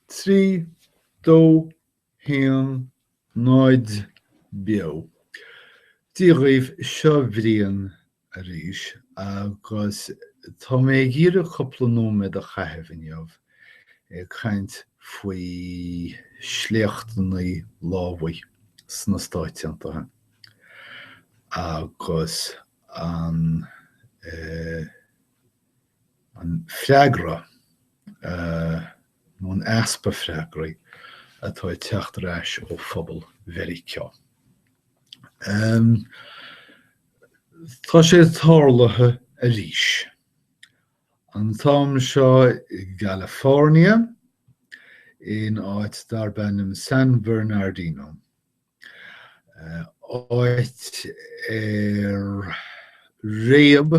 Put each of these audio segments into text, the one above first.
3, 2, 1, 0 Beo. Dia dhaoibh, seo Brian arís agus tá mé ag iarraidh cúpla nóiméad a chaitheamh inniu ag caint faoi sléachtannaí lámhaigh sna Stáit Aontaithe agus an An freagra, nó an easpa freagraí, atá ag teacht ar ais ó phobal Mheiriceá. Tá sé tarlaithe arís. An t-am seo i gCalifornia, in áit darb ainm San Bernardino. Áit ar réab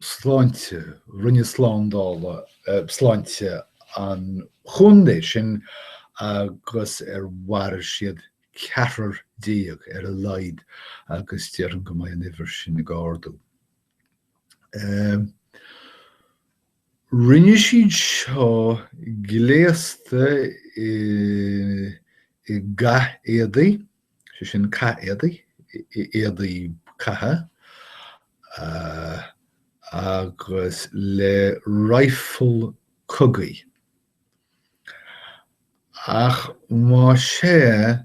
Sláinte, Roinn Slándála Sláinte an Chontae sin agus ar mharaigh siad ceathrar déag ar a laghad agus déarfainn go mbeidh an uimhir sin ag ardú. Rinne siad seo gléasta i gcathéadaí. sé sin cathéadaí, éadaí catha, agus le raidhfil cogaidh. Ach más ea,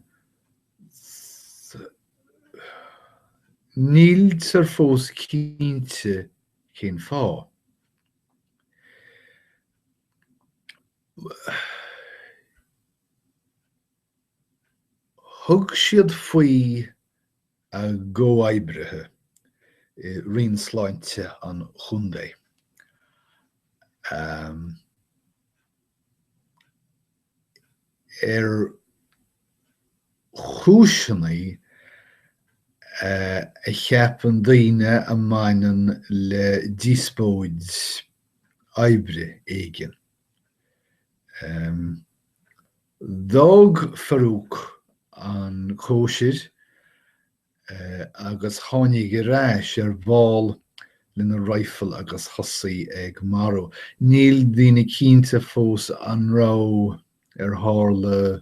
níltear fós cinnte cén fáth. Thug siad faoi a gcomhoibrithe i Roinn Sláinte an Chontae, ar chúiseanna a cheapann daoine a mbaineann le díospóid oibre éigin. D'fhág Farouk an chóisir agus tháinig ar ais ar ball lena raidhfil agus thosaigh ag marú. Níl daoine cinnte fós an raibh ar tharla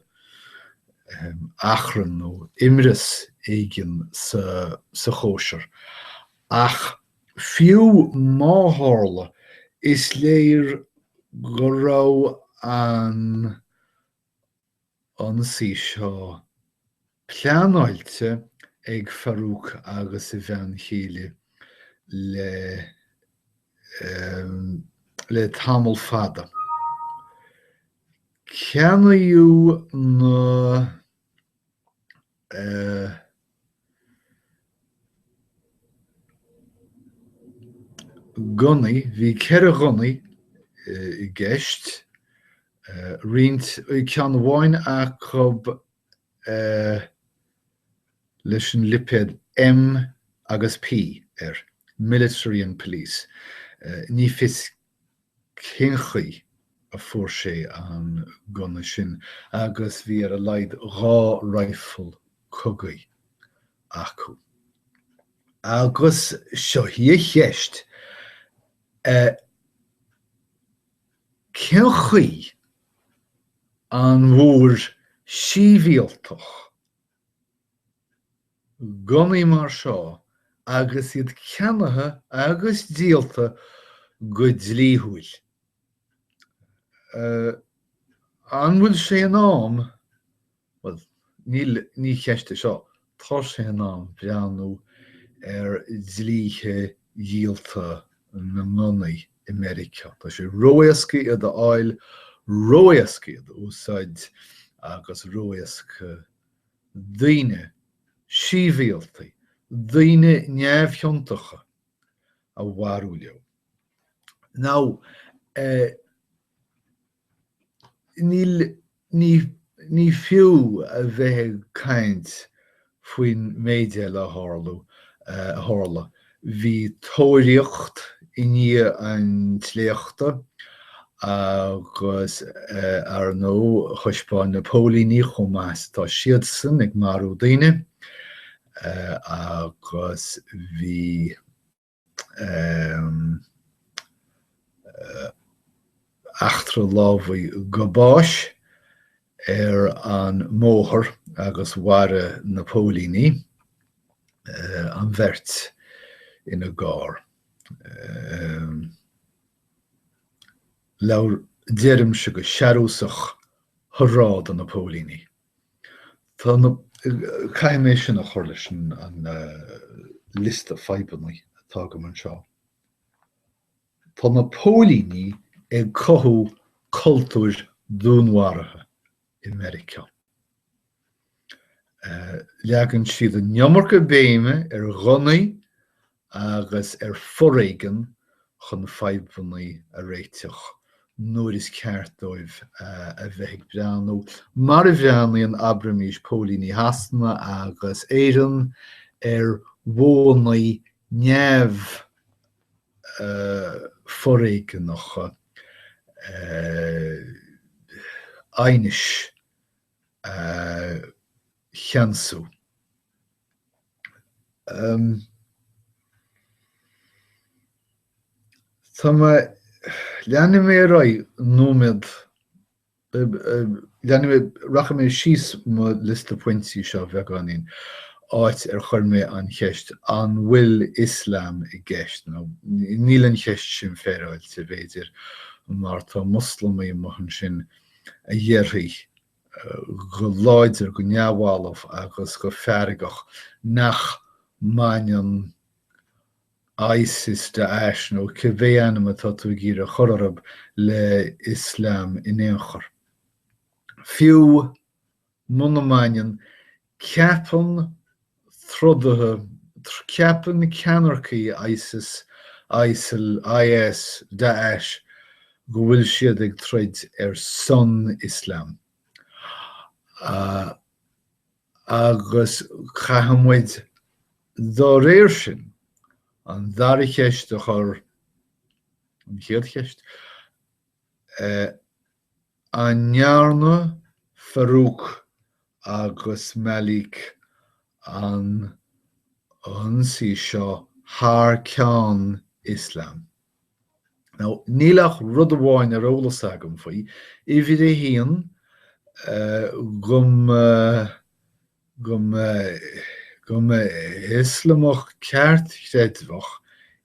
achrann nó imreas éigin sa chóisir ach Fiú má tharla, is léir go raibh an t-ionsaí seo pleanáilte ag Farouk agus a bhean chéile le tamall fada. Ceannaíodh na. Gunnaí, bhí ceithre ghunna i gceist, roinnt, eh, ceann amháin acu leis an lipéad M agus P air, Military and Police. Ní fios cén chaoi a fuair sé an gunna sin agus bhí ar a laghad dhá raidhfil cogaidh acu. Agus seo í an cheist, eh, cén chaoi a bhfuair sibhialtach gunnaí mar seo agus iad ceannaithe agus díolta go dlíthiúil. An bhfuil sé in am, bhuel, ní ceist é seo, tá sé in am breathnú ar dhlíthe díolta na ngunnaí. i Meiriceá. Tá sé ró-éasca iad a fháil, ró-éasca iad a úsáid agus ró-éasca daoine sibhialta, daoine neamhchiontacha a mharú leo. Now, eh, Ní fiú a bheith ag caint faoin méid eile a tharla. Bhí tóiríocht i ndiaidh an tsléachta agus ar ndóigh thaispeáin na póilíní chomh maith is atá siadsan ag marú daoine agus bhí. eachtra lámhaigh go bás ar an mbóthar agus mharaigh na póilíní an bheirt ina gcarr. Labhair, deirimse go searúsach, 'Hurá do na póilíní! Tá, caithfidh mé sin a chur leis an liosta fadhbanna atá agam anseo, tá na póilíní ag cothú cultúir dúnmharaithe i Meiriceá. Leagann siad an iomarca béime ar ghunnaí agus ar foréigean chun fadhbanna a réiteach nuair is ceart dóibh a bheith ag breathnú mar a bhreathnaíonn, abraimis, póilíní Shasana agus Éireann ar bhónnaí neamh-fhoréigeanacha aighnis a cheansú. Tá, leanfaidh mé ar aghaidh nóiméad, leanfaidh mé, rachaidh mé síos mo liosta pointí seo beagáinín, áit ar chuir mé an cheist an bhfuil Ioslam i gceist, nó níl an cheist sin féaráilte, b'fhéidir, mar tá Moslamaigh amuigh ansin a dhéarfaidh go láidir, go neamhbhalbh agus go feargach nach mbaineann ISIS, Daesh nó cibé ainm atá tú ag iarraidh a chur orthu le Ioslam in aon chor. Fiú muna mbaineann, Ceapann trodaithe, ceapann ceannaircigh Isis, Isil, IS, Daesh go bhfuil siad ag troid ar son Ioslam agus caithfidh muid dá réir sin an dara cheist a chur, an chéad cheist, An ndearna Farouk agus Malik an t-ionsaí seo thar ceann Ioslam? Now, níl ach rud amháin ar eolas agam faoi, uimhir a haon, go mba. go, go mba Ioslamach ceartchreidmheach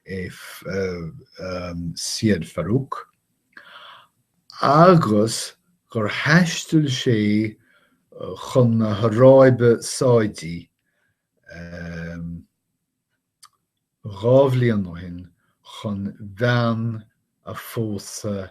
é Seyyed Farouk agus gur thaistil sé chun na hAráibe Sáidí dhá bhliain ó shin chun bean a phósadh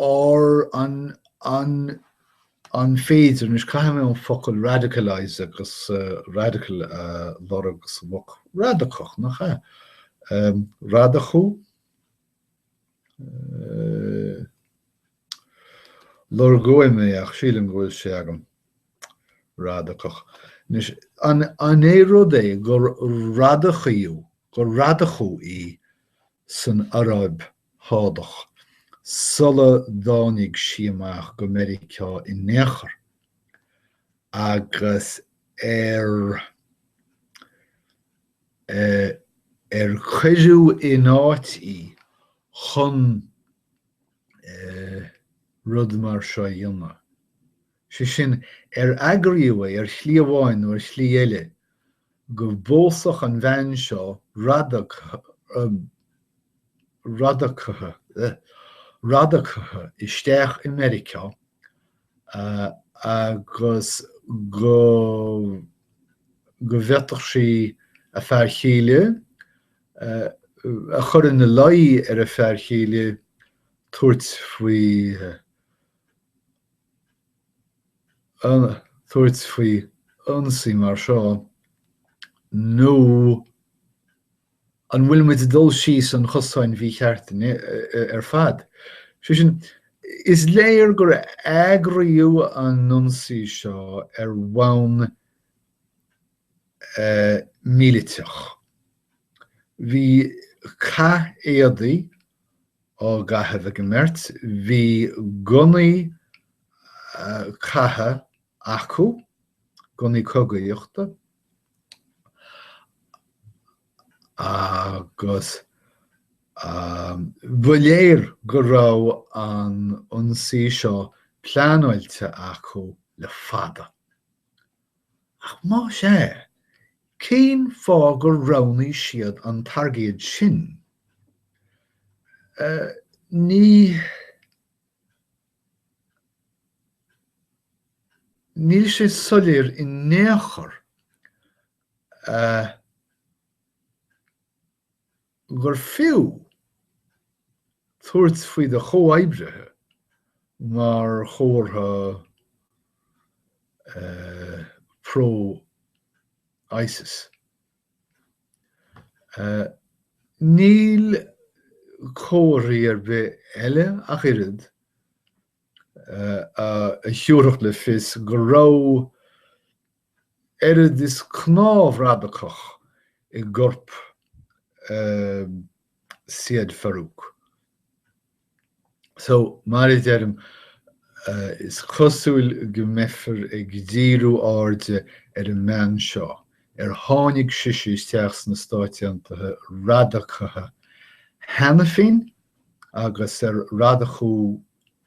Ar an féidir, anois caithfidh mé an focal radicalise agus radical a lorg amach, radacach, nach ea? radacú? lorgóidh mé ach sílim go bhfuil sé agam, radacach. Anois, an é rud é gur radacaíodh, gur radacaíodh í san Araib Shádach, sula dtáinig sí amach go Meiriceá in aon chor, agus ar ar cuireadh in áit í chun rud mar seo a dhéanamh, sé sin, ar eagraíodh é ar shlí amháin nó ar shlí eile go mbeadh an bhean seo radacaithe isteach i Meiriceá agus go bhféadfadh sí a fear chéile a chur ina luí ar a fear chéile tabhairt faoi tabhairt faoi ionsaí mar seo, nó an bhfuil muid ag dul síos an chosáin mhíchirt ar fad? Sé sin, is léir gur eagraíodh an ionsaí seo ar bhonn míliteach. Bhí cath éadaí á gcaitheamh ag an mbeirt. Bhí gunnaí catha acu, gunnaí cogaíochta, agus ba léir go raibh an t-ionsaí seo pleanáilte acu le fada. Ach más ea, cén fáth gur roghnaigh siad an targaid sin? Níl sé soiléir in aon chor. gur fiú tabhairt faoi do chomhoibrithe mar chomhartha pro-ISIS. Níl comharthaí ar bith eile ach oiread a thabharfadh le fios go raibh oiread is cnámh radacach i gcorp Syed Farook. So, mar a deirim, is cosúil go mbeifear ag díriú airde ar an mbean seo, ar tháinig sise isteach sna Stáit Aontaithe radacaithe cheana féin agus ar radacú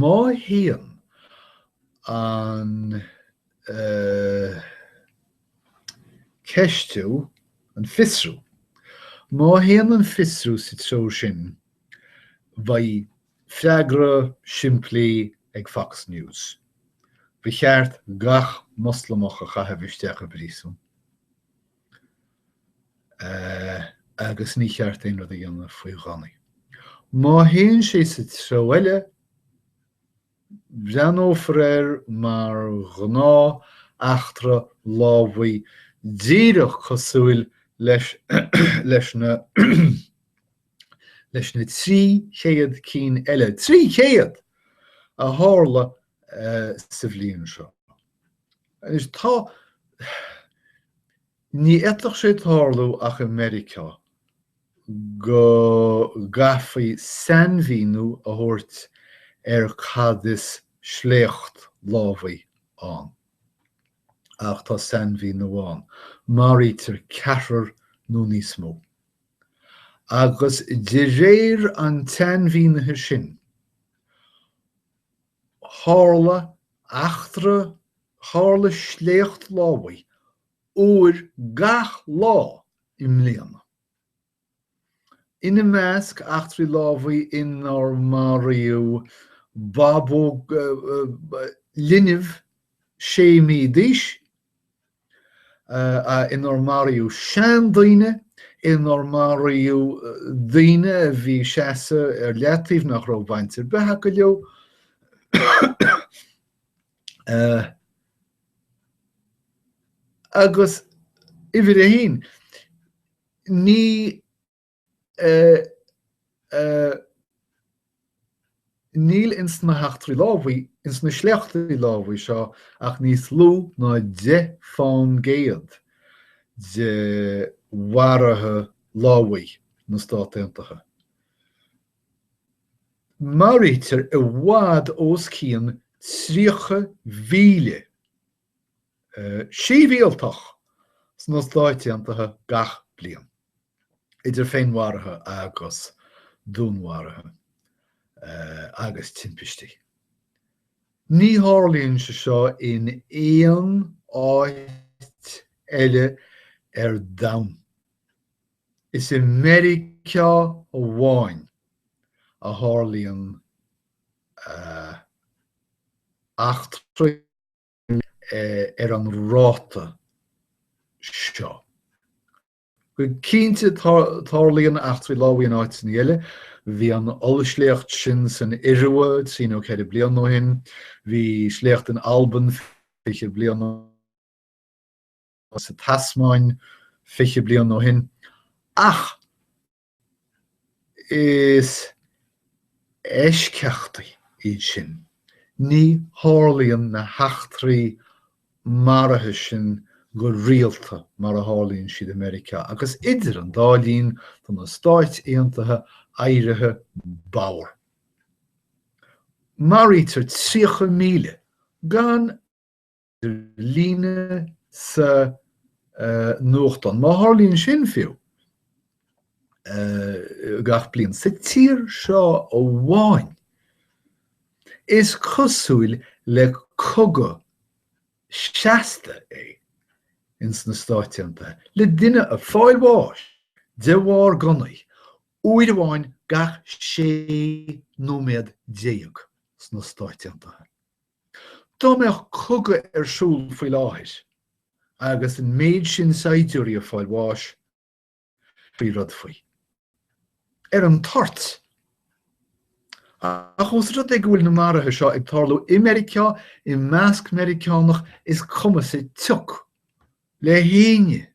Má théann an ceistiú, an fiosrú, má théann an fiosrú sa treo sin, bheadh freagra simplí ag Fox News, ba cheart gach Moslamach a chaitheamh isteach i bpríosún. agus ní cheart aon rud a dhéanamh faoi ghunnaí. Má théann sé sa treo eile, breathnófar air mar ghnáth eachtra lámhaigh, díreach cosúil leis na leis na trí chéad cinn eile, trí chéad! a tharla sa bhliain seo. Anois, ní fhéadfadh sé tarlú ach i Meiriceá go gcaithfí sainmhíniú a thabhairt ar cad is sléacht lámhaigh ann. Ach tá sainmhíniú ann, maraítear ceathrar nó níos mó. Agus de réir an tsainmhínithe sin, Tharla eachtra, tharla sléacht lámhaigh, uair gach lá i mbliana. Ina measc eachtraí lámhaigh inar maraíodh babaí, leanbh sé mhí d'aois, inar maraíodh seandaoine, inar maraíodh daoine a bhí ag seasamh ar leataobh nach raibh baint ar bith acu leo, agus uimhir a haon, ní. Níl ins na heachtraí lámhaigh, ins na sléachtaí lámhaigh seo ach níos lú ná deich fán gcéad de mharuithe lámhaigh na Stát Aontaithe. Maraítear i bhfad os cionn 30,000 sibhialtach sna Stáit Aontaithe gach bliain, idir féinmharuithe agus dúnmharuithe agus timpistí. Ní tharlaíonn sé seo in aon áit eile ar domhan. Is i Meiriceá amháin a tharlaíonn eachtraí. ar an ráta seo. Go cinnte, tarlaíonn eachtraí lámhaigh in áiteanna eile. Bhí an ollsléacht sin san Iorua trí nó ceithre bliain ó shin, bhí sléacht in Albain fiche bliain ó shin, sa Tasmáin fiche bliain ó shin, ach Is eisceachtaí iad sin, ní tharlaíonn na heachtraí maraithe sin go rialta mar a tharlaíonn siad i Meiriceá, agus idir an dá linn tá na Stáit Aontaithe éirithe bodhar. Maraítear 30,000 gan líne sa nuachtán, má tharlaíonn sin fiú, gach bliain, sa tír seo amháin. Is cosúil le cogadh seasta é ins na Stáit Aontaithe, le duine ag fáil bháis de bharr gunnaí, uair amháin gach 16 nóiméad sna Stáit Aontaithe. Dá mbeadh cogadh ar siúl faoi láthair agus an méid sin saighdiúirí ag fáil bháis, dhéanfaí rud faoi. Ar an toirt. Ach ós rud é go bhfuil na maruithe seo ag tarlú i Meiriceá, i measc Meiriceánach, is cuma sa tsioc le héinne.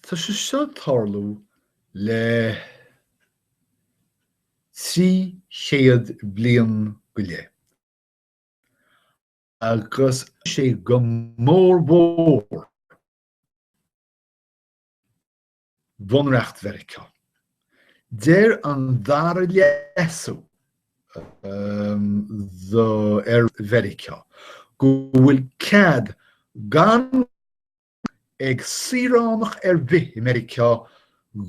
Tá sé seo ag tarlú le trí chéad bliain go leith agus tá sé go mór mhór Bhunreacht Mheiriceá. Deir an dara leasú do ar Mheiriceá go bhfuil cead gan ag saoránach ar bith i Meiriceá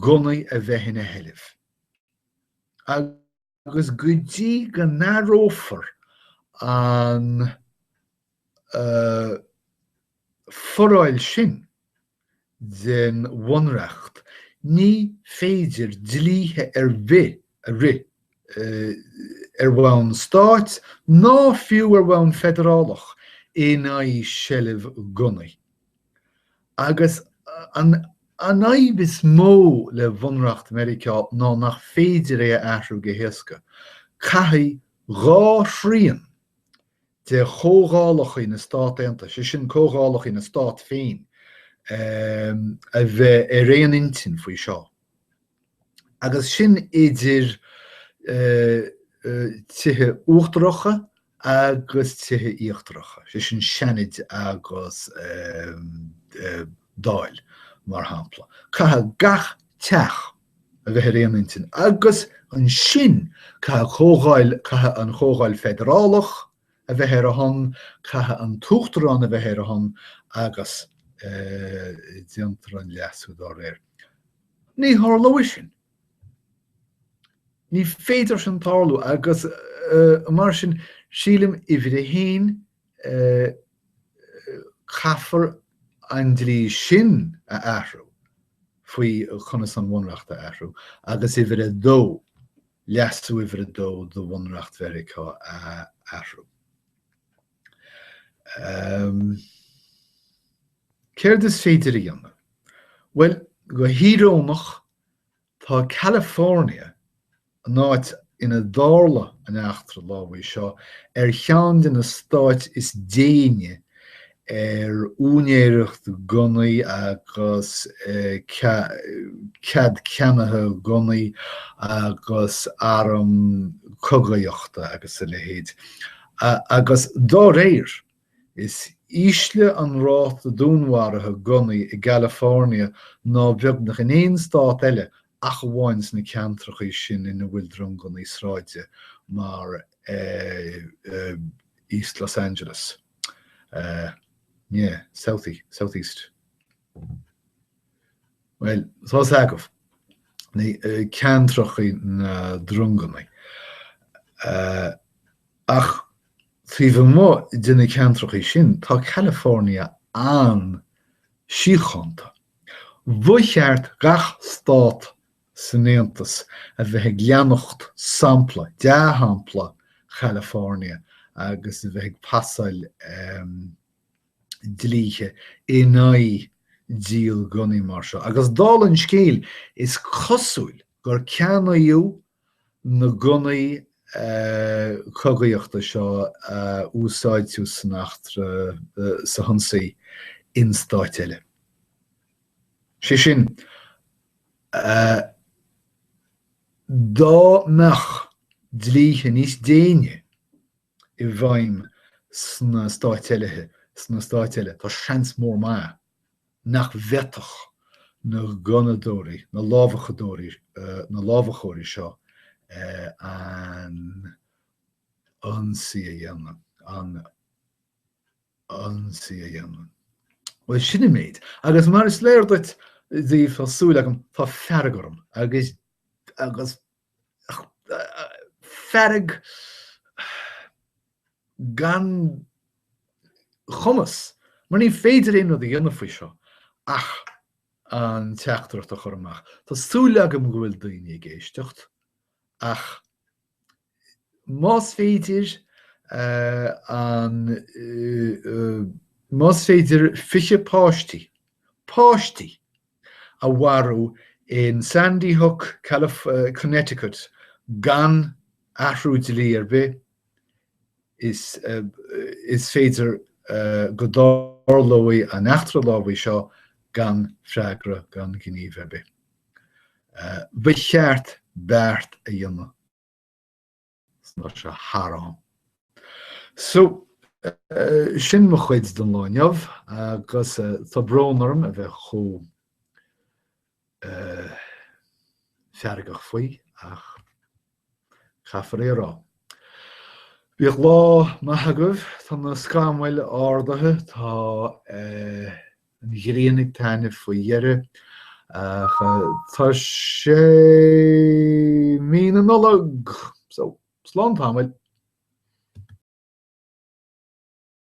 gunnaí a bheith ina sheilbh. Agus go dtí go n-athrófar an foráil sin den Bhunreacht, ní féidir dlíthe ar bith a rith ar bhonn stáit, ná fiú ar bhonn feidearálach, in aghaidh seilbh gunnaí. Agus an fhadhb is mó le Bunreacht Mheiriceá ná nach féidir é a athrú go héasca. Caithfidh dhá thrian de chomhdhálacha na Stát Aontaithe, sé sin comhdhálacha na Stát féin, a bheith ar aon intinn faoi seo. Agus sin idir tithe uachtaracha agus tithe íochtaracha, sé sin Seanaid agus Dáil mar shampla, caithfidh gach teach a bheith ar aon intinn agus ansin caithfidh Comhdháil, caithfidh an Chomhdháil Fheidearálach a bheith ar a shon, caithfidh an tUachtarán a bheith ar a shon agus déantar an leasú dá réir. Ní tharlóidh sin. Ní féidir sin tarlú agus mar sin, sílim, uimhir a haon, caithfear an dlí sin a athrú faoi conas an bhunreacht a athrú agus uimhir a dó, leasú uimhir a dó de Bhunreacht Mheiriceá a athrú. Céard is féidir a dhéanamh? Bhuel, go híorónach, Tá California, an áit inar tharla an eachtra lámhaigh seo, ar cheann de na stáit is déine ar úinéireacht gunnaí agus cead ceannaithe gunnaí agus arm cogaíochta agus a leithéid, agus dá réir, Is ísle an ráta dúnmharaithe gunnaí i gCalifornia ná beagnach in aon stát eile ach amháin sna ceantracha sin ina bhfuil drong gunnaí sráide mar East Los Angeles, nie, South, Southeast. Bhuel, tá's agaibh, ceantracha na dronganna. Ach taobh amuigh de na ceantracha sin, tá California an-síochánta. Ba cheart gach stát san Aontas a bheith ag leanacht sampla, dea-shampla, Chalifornia agus a bheith ag pasáil dlíthe in aghaidh díol gunnaí mar seo, agus dála an scéil, is cosúil gur ceannaíodh na gunnaí cogaíochta seo a úsáideadh san eachtra, san ionsaí, in stáit eile. Sé sin, dá mbeadh dlíthe níos déine i bhfeidhm sna stáit eile, sna stáit eile, tá seans mór maith nach bhféadfadh na gunnadóirí, na lámhachadóirí, na lámhachóirí seo an ionsaí a dhéanamh, an ionsaí a dhéanamh. Bhuel, sin an méid. Agus mar is léir duit, daoibh, tá súil agam, tá fearg orm, agus, agus, fearg gan chumas, mar ní féidir aon rud a dhéanamh faoi seo ach an teachtaireacht a chur amach. Tá súil agam go bhfuil daoine ag éisteacht ach más féidir an más féidir 20 páistí, páistí! a mharú in Sandy Hook, Connecticut gan athrú dlí ar bith, is is féidir go dtarlóidh an eachtra lámhaigh seo gan freagra, gan gníomh ar bith. Ba cheart beart a dhéanamh. Tá sé thar am. So, sin mo chuid don lá inniu agus tá brón orm a bheith chomh feargach faoi ach caithfear é a rá. Bíodh lá maith agaibh, tá na scamaill ardaithe, tá. an ghrian ag taitneamh faoi dheireadh ach tá sé Mí na Nollag! So, slán tamaill!